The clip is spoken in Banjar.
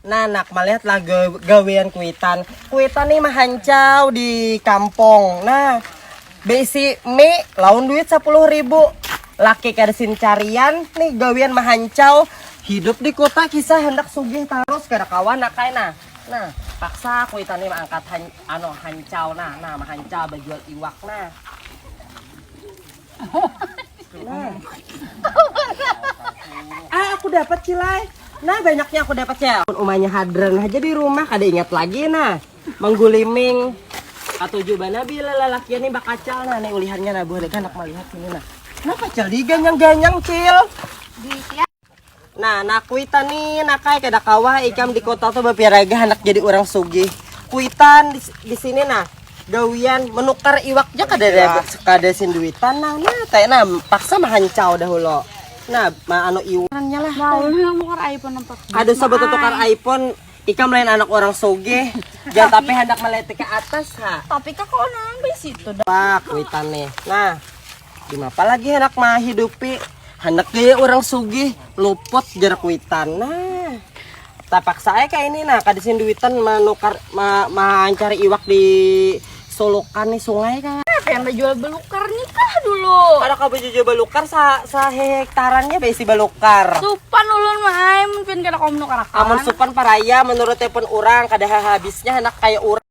Nah, nak melihat lah gawean kuitan. Kuitan nih mahancau di kampung. Nah, besi mie lawan duit sepuluh ribu. Laki kersin carian nih gawean mahancau. Hidup di kota kisah hendak sugih terus kada kawan nak kain nah. Nah, paksa kuitan nih mengangkat han, ano hancau nah. Nah, mahancau bajual iwak nah. Nah. ah, aku dapat cilai. Nah, banyaknya aku dapat ya. Umanya hadran aja di rumah, kada ingat lagi nah. Mengguliming katujuh bana bila lalaki ini bakacal nah ini ulihannya nah buah anak melihat ini nah. Nah, kacal di ganyang-ganyang, Cil. Di Nah, nah kuitan nih nak kayak kada kawah ikam di kota tuh bapiraga anak jadi orang sugih. Kuitan di, di sini nah gawian menukar iwaknya kada ada kada sinduitan nah nah teh nah paksa mahancau dahulu. Nah, ma anu iwannya lah. Ada sobat tukar iPhone Ikam lain anak orang soge, jangan tapi hendak melihat ke atas ha. Tapi kak kok nambah situ dah. Pak, kuitan nih. Nah, Dimapa lagi hendak mahidupi hendak gaya orang sugih luput jarak witan nah tapaksa aja kayak ini nah kada sini duitan menukar ma, mencari iwak di solokan nih sungai kah pengen menjual belukar nih kah dulu kada kau jual belukar sa sa hektarannya besi belukar supan ulun mah mungkin kada kau menukar amun supan paraya menurut telepon orang kada habisnya hendak kayak orang